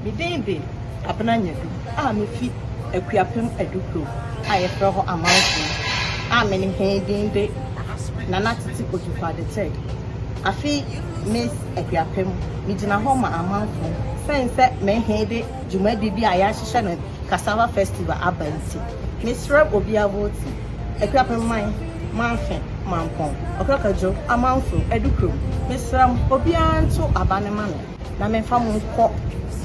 Me din de Abena Nyadu a mefi Akuapem Adu Kurom a yɛfrɛ hɔ Amanfo a me ne hɛn din de Nana Tete Ojukwu Ade Third. Afe yi Miss Akuapem, megyina hɔ ma Amanfo sen sɛ me hɛn de dwumadi bi a yɛahyehyɛ no Cassava Festival aba ntsi. Meserɛ obia vote Akuapem man, Manfe, Mampɔn, Ɔkrɔkadwo, Amanfo, Adu Kurom, meserɛ mo obiara nto aba no ma me. na memfa mo nkɔ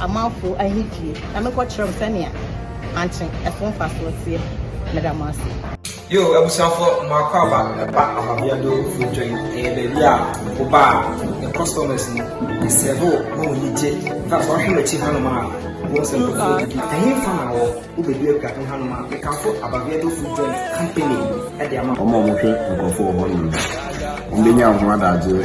amanfo ahedie na menkɔkyerɛ mo sɛnea ankye ɛso mfasoɔ teɛ. Meda mo ase. Yo abusuafo mo akwaaba ɛba ahwabea do fo dwan ɛyɛ baabi a wo ba a yɛ customers no yɛ serve wo na wɔn ani gye na sɛ ɔhwɛ w'akyi hanom a wɔn sɛ nkurɔfoɔ didi ɛhe fa na wɔ wo bɛdu apira ho hanom a mekamfo ababea do fo dwan company ɛde ama wɔn a wɔhwɛ nkurɔfoɔ wɔ hɔnom no wɔn bɛnya ho adagyeɛ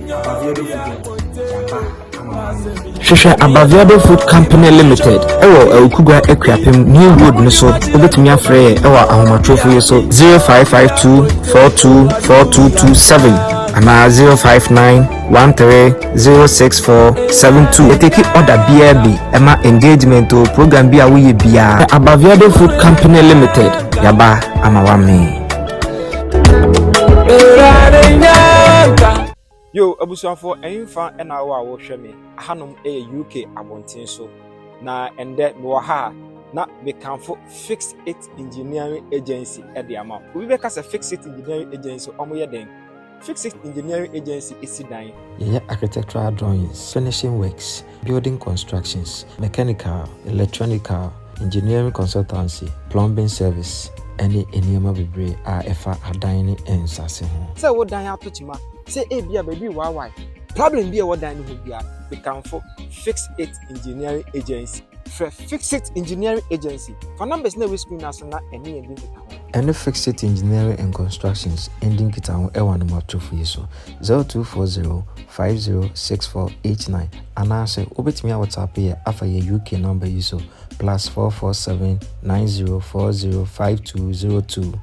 Hwehwɛ Abaviado Food Company Limited ɛwɔ Awukugwa Akuapem New Road no so wobɛtumi afrɛ yɛ ɛwɔ ahomatorofo yi so 0552 424227 anaa 059 130647 yɛteki order biara bi ɛma engagement o program bi a woyɛ biara Abaviado Food Company Limited yaba ama wame yo abusuafoɔ ɛmfa ɛna awɔ a wɔhwɛ me ahanom ɛyɛ uk abɔnten so na ɛndɛ mewɔ ha a na mekamfo fix it engineering agency ɛde ama obi bɛka sɛ fix it engineering agency ɔmo yɛ dɛn Fixit Engineering Agency esi dan. Yɛyɛ architectural drawings, finishing works, building constructions, mechanical, electronical, engineering consultancy, plumbing service, ɛne nneɛma bebree a ɛfa adan ne nsase ho. Sɛ wo dan ato kyema, sɛ ebia baabi rewaawae, problem bi a ɛwɔ dan no ho biara, mekamfo Fixit Engineering Agency. Frɛ Fixit Engineering Agency. Fa numbers na ɛwɔ screen no ara so na ɛne yɛn di nkitaho. Ɛne Fixit Engineering and Constructions ndi nkitaho wɔ anomatofo yi so, 0240 506489 anaasɛ wobɛtumi awɔtsape yɛ afa yɛn UK number yi so, plus 447 9040 5202.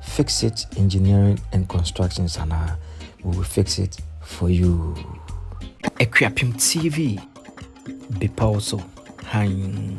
Fixit Engineering and Constructions anaa, we will fix it for you. Akuapem TV. bepɔw so hann.